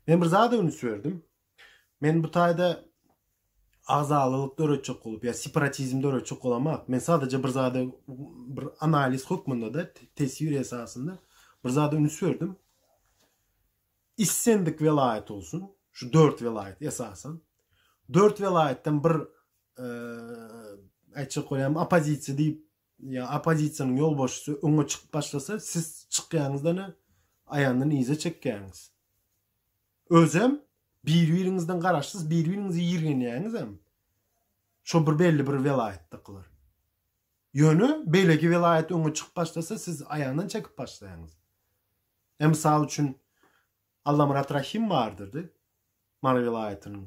Men bir zada üns berdim. Men bu taýda agzalylyk döretjek bolup, ýa separatizm döretjek bolamok. Men sadece bir zada bir analiz hökmünde de teswir esasynda bir zada üns berdim. Issendik welaýat olsun, şu dört welaýat esasan. Dört welaýatdan bir e, aýtjak bolýan opozisiýa diýip Ýa oppozisiýanyň ýolbaşçysy öňe çykyp başlasa, siz çykýaňyzdan-a aýandan yza çekýäňiz. Özem bir-biriňizden garaşsyz, bir-biriňizi ýirgenýäňizem. Şo bir belli bir welaýatdakylar. Ýöne beýleki welaýat öňe çykyp başlasa, siz aýandan çekip başlaýaňyz. Ä misal üçin, Allamyrat Rahym bardyrdy. Mary welaýatynyň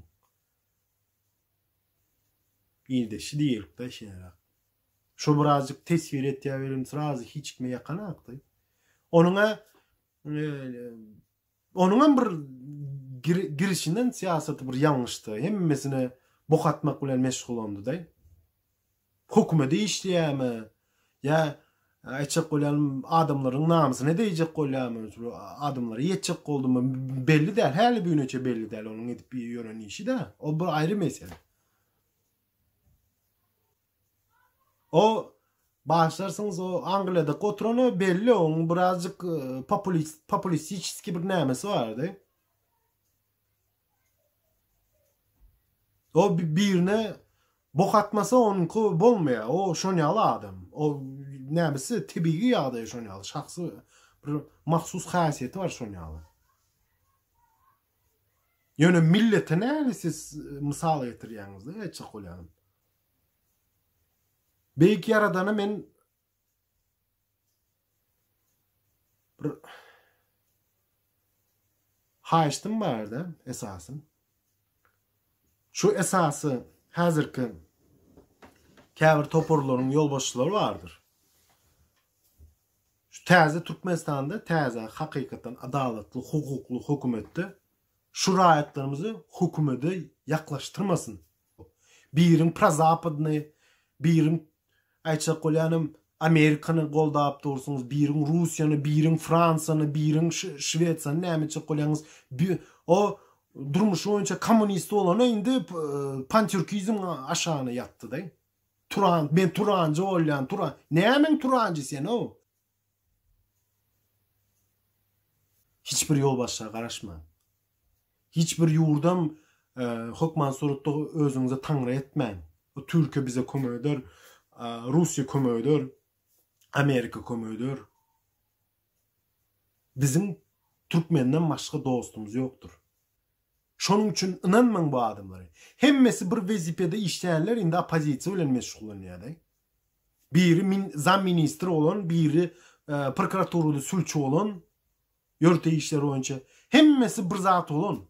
ildeşi diýelikde şeýleräk. Şo birazjyk teswir etýär welin srazy hiç kime ýakanakdy. Onuň-a onuň hem bir girişinden syýasaty bir ýalňyşdy. Hemmesine bok atmak bilen meşgulandy-da. Hökümede işleýärmi? Ýa aýtjak bolýan adamlaryň namysyna degjek bolýarmy? Şu adamlara ýetjek boldumy? Belli däl. Häli bigüneçe belli däl onuň edip ýören işi-de. O bir aýry mesele. O Başlarsyňyz o Angliýada oturany belli oň birazjyk e, populist populistiçki bir nämesi bardy. O birine bok atmasa onuňky bolmaýar. O şon ýaly adam. O nämesi tebigy ýagdaýy şon ýaly. Şahsy bir mahsus häsiýeti bar şon ýaly. Ýöne millete näli siz e, mysal getirýäňiz-de, etjek bolýan. Beýik ýaradana men Bir haýyştym barda esasym. Şu esasy häzirki käbir toparlaryň ýolbaşçylary bardyr. Şu täze Türkmenistanda täze hakykatdan adalatly, hukukly hökümetde şu raýatlarymyzy hökümete ýaklaşdyrmasyn. Biriň prozapodny, biriň aýtjak bolýanym Amerikany goldap dursuňyz, biriň Russiýany, biriň Fransiýany, biriň Şwesiýany näme etjek bolýaňyz? O durmuşy boýunça kommunist bolana indi pantürkizm aşagyna ýatdy-da. Turan, men turanjy bolýan, turan. Nämeň turanjy sen-ow? Hiç bir ýolbaşçyga garaşmaň. Hiç bir ýurdam hökman suratda özüňize taňry etmäň. Türkiýe bize kömek eder, Russiýa kömek eder, Amerika kömek eder. Biziň türkmenden başga dostumyz ýokdur. Şonuň üçin ynanmaň bu adamlara. Hemmesi bir wezipede işleýärler, indi oppozisiýa bilen meşgullanýarlar. Biri min zam ministr bolan, biri prokuraturada sülçi bolan, ýörite işler boýunça. Hemmesi bir zat bolan.